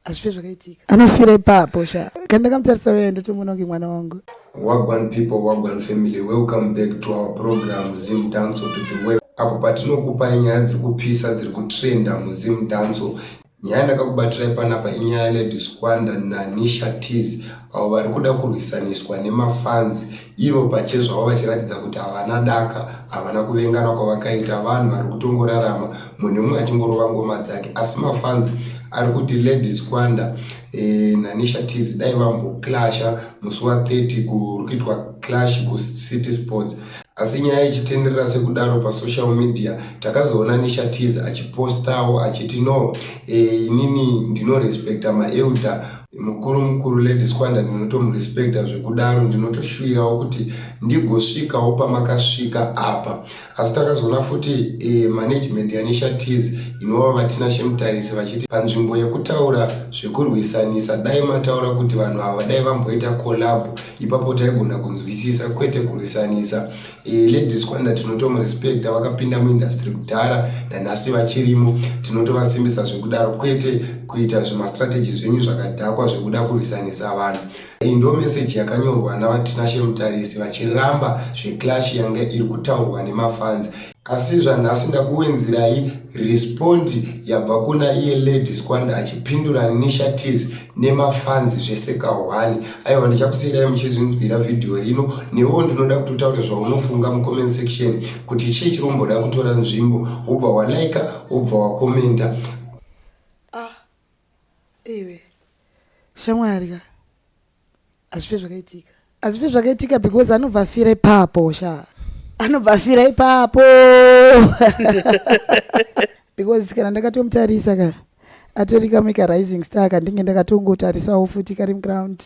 hazvife zvakaitika anofira ipapo sha kana ndakamutarisa uye ndotomuona kunge mwana wangu wagwan people wagwan family welcome back to our program zim danso to the web apo patinokupai nyaya dziri kupisa dziri kutrenda muzim danso nyaya ndakakubatirai panapa inyaya yalady squanda nanisha tis avo vari kuda kurwisaniswa nemafanzi ivo pachezvavo vachiratidza kuti havana daka havana kuvengana kwavakaita vanhu vari kutongorarama munhu umwe achingorova ngoma dzake asi mafanzi ari kuti lady squanda e, eh, nanisha tis dai vamboclasha musi wa 30 kuri kuitwa clash kucity sports asi nyaya ichitenderera sekudaro pasocial media takazoona nisha tis achipostawo achiti no e, inini ndinorespecta maelder mukuru mukuru lady squanda ndinotomurespecta zvekudaro ndinotoshuvirawo kuti ndigosvikawo pamakasvika apa asi takazoona futi e, management yanisha tis inova vatina shemutarisi vachiti panzvimbo yekutaura zvekurwisanisa dai mataura kuti vanhu ava dai vamboita collab ipapo taigona kunzwisisa kwete kurwisanisa Eh, ladies kwanda tinotomurespecta vakapinda muindustry kudhara nanhasi vachirimo tinotovasimbisa zvekudaro kwete kuita zvemastrategy zvenyu zvakadhakwa zvekuda kurwisanisa vanhu iyi ndo meseji yakanyorwa navatinashe mutarisi vachiramba zveclash yange iri kutaurwa nemafanzi asi zvanhasi ndakuwenzirai respondi yabva kuna iye ladies kwanda achipindura nisha tis nemafans zvese kahwani aiwa ndichakusiirai muchizvinzwira vhidhiyo rino newewo ndinoda kuti utaure zvaunofunga mucomment section kuti chii chiri kumboda kutora nzvimbo wobva walaika wobva wakomenta ah, iwe shamwari ka hazvife zvakaitika hazvife zvakaitika because anobva afira ipapo sha anobva afira ipapo because kana ndakatomutarisa ka atori kamwe karising star kandinge ndakatongotarisawo futi kari muground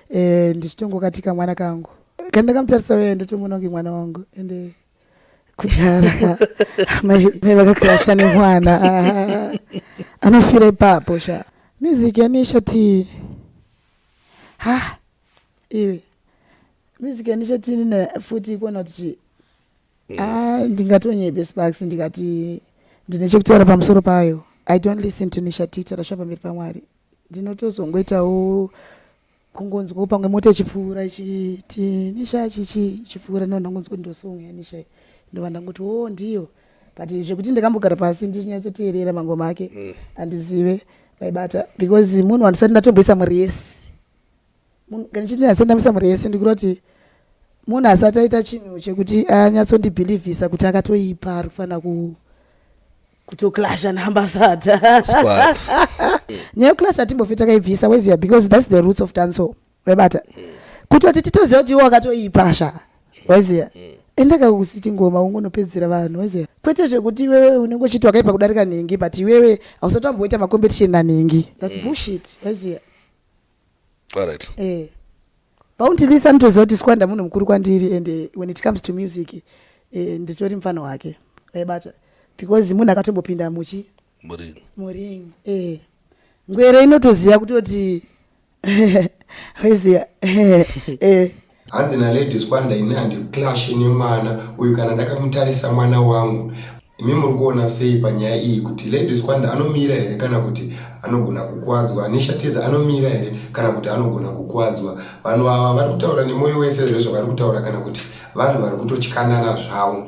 eh, ndichitongokati kamwana kangu kana ndakamutarisa uye ndotomuona kunge mwana wangu ende kudhara mai vakakirasha nemwana anofira ipapo sha music yanisha tii ha iwe mizike ndichatini na futi ikona kuti chii mm. ah, ndingatonyepe sparks ndikati ndine chekutaura pamusoro payo i don't listen to nisha tita rasva pamberi pamwari ndinotozongoitawo kungonzwawo pamwe mota ichipfuura ichiti nisha chichi ichipfuura ndovandangonzwa kuti ndosonga yanisha ndovandanguti wo oh, ndiyo but zvekuti ndakambogara pasi ndichinyatsoteerera mangoma ake mm. andizive vaibata because munhu wandisati ndatomboisa mari yese kana chiti ndinasati ndamisa mari yese ndikuda kuti munhu asati aita chinhu chekuti anyatsondibhilivhisa kuti akatoipa ari kufanira ku kutoclasha naambasada nyaya yokuclasha timbofetakaibvisa weziya because thats the roots of dancehall webata kutoti titoziva kuti iwe wakatoipa sha waiziva endaka kusiti ngoma ungonopedzera vanhu waiziva kwete zvekuti iwewe unenge uchiti wakaipa kudarika nhingi but iwewe hausati wamboita macompetition nanhingi thats mm. bullshit waiziva alright eh bounty this anotoziva kuti squanda munhu mukuru kwandiri and eh, when it comes to music eh, nditori mfana wake waibata because munhu akatombopinda muchi muringi muringi eh ngwere inotoziva kutoti weziva eh hanzi naladies kwanda ini handiclashe nemwana uyu kana ndakamutarisa mwana wangu imi muri kuona sei panyaya iyi kuti ladies kwanda anomira here kana kuti anogona kukwadzwa neshatiza anomira here kana kuti anogona kukwadzwa vanhu ava vari kutaura nemwoyo wese zvezvavari kutaura kana kuti vanhu vari kutotyanana zvavo